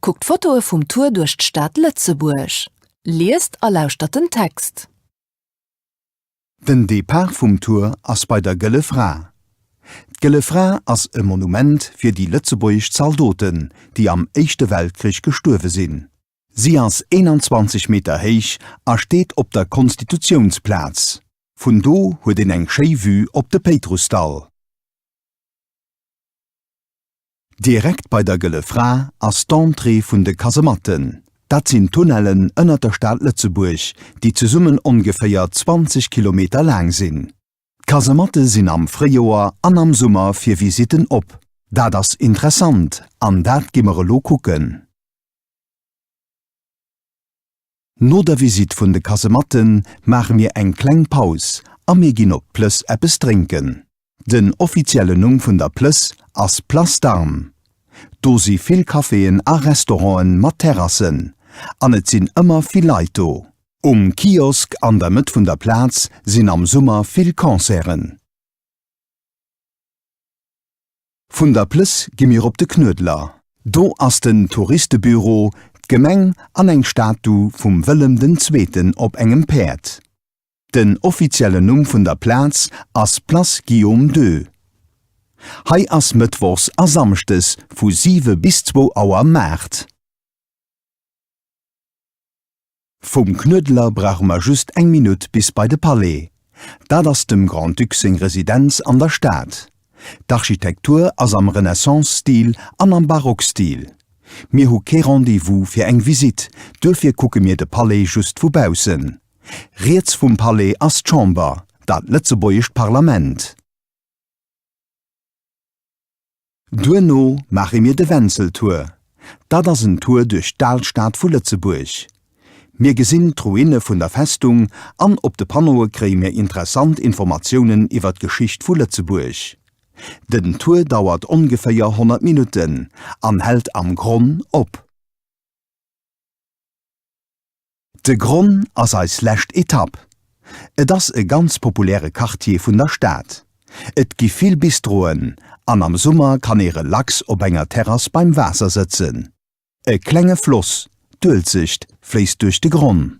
Kuckt Fotoe vum Tour duerch d'Stad Lëtzebuerg. Liest a lauschtert den Text. Den Depart vum Tour ass bei der Gëlle Fra. D'Gëlle Fra ass e Monument fir déi lëtzebuergesch Zaldoten, déi am Éischte Weltkrich gestuerwe sinn. Si ass 21 Meter héich a steet op der Konstitutiounsplaz. Vun do huet een eng schéi Vue op de Péitrussdall. Direkt bei der Gëlle Fra ass d'Entrée vun de Kasematten. Dat sinn Tunnellen ënnert der Stad Lëtzebuerg, déi zesummen ongeféier 20 Kilometer laang sinn. D'Kasematte sinn am Fréijoer an am Summer fir Visitten op. Dat ass interessant an dat gi mer elo kucken. No der Visite vun de Kasematten maache mir eng kleng Paus a mir ginn op d'Plëss eppes drénken. Den offiziellen Numm vun der Plëss ass Place d'Armes. Do si vill Caféen a Restauranten mat Terrassen an et sinn ëmmer vill Leit do. Um Kiosk an der Mëtt vun der Plaz sinn am Summer vill Concerten. Vun der Plëss gi mir op de Knuedler. Do ass den Touristebüro, d'Gemeng an eng Statu vum Wëllem den Zweeten op engem Päerd. Den offiziellen Numm vun der Plaz ass Place Guillaume ii. Hei ass mëttwochs a samschdes vu siwe bis zwou Auer Maart. Vum Knuedler brauche mer just eng Minutt bis bei de Palais. Dat ass dem Grand-Duc seng Residenz an der Stad. D'Architektur ass am Renaissance-Stil an am Barock-Stil. Mir hu kee Rendez-vous fir eng Visitt, duerfir kucke mir de Palais just vu baussen. Riets vum Palais ass d'Chamber, dat lëtzebuergescht Parlament. Duerno maache mir de Wenzel-Tour. Dat ass en Tour duerch d'Alstad vu Lëtzebuerg. Mir gesinn d'Ruine vun der Festung an op de Panneaue kréie mir interessant Informatiounen iwwer d'Geschicht vu Lëtzebuerg. Den Tour dauert ongeféier 100 Minutten an hält am Gronn op. De Gronn ass eis lescht Etapp. Et ass e ganz populäre Quartier vun der Stad. Et gi vill Bistroen an am Summer kann ee relax op enger Terrass beim Waasser sëtzen. E klenge Floss, d'Uelzecht, fléisst duerch de Gronn.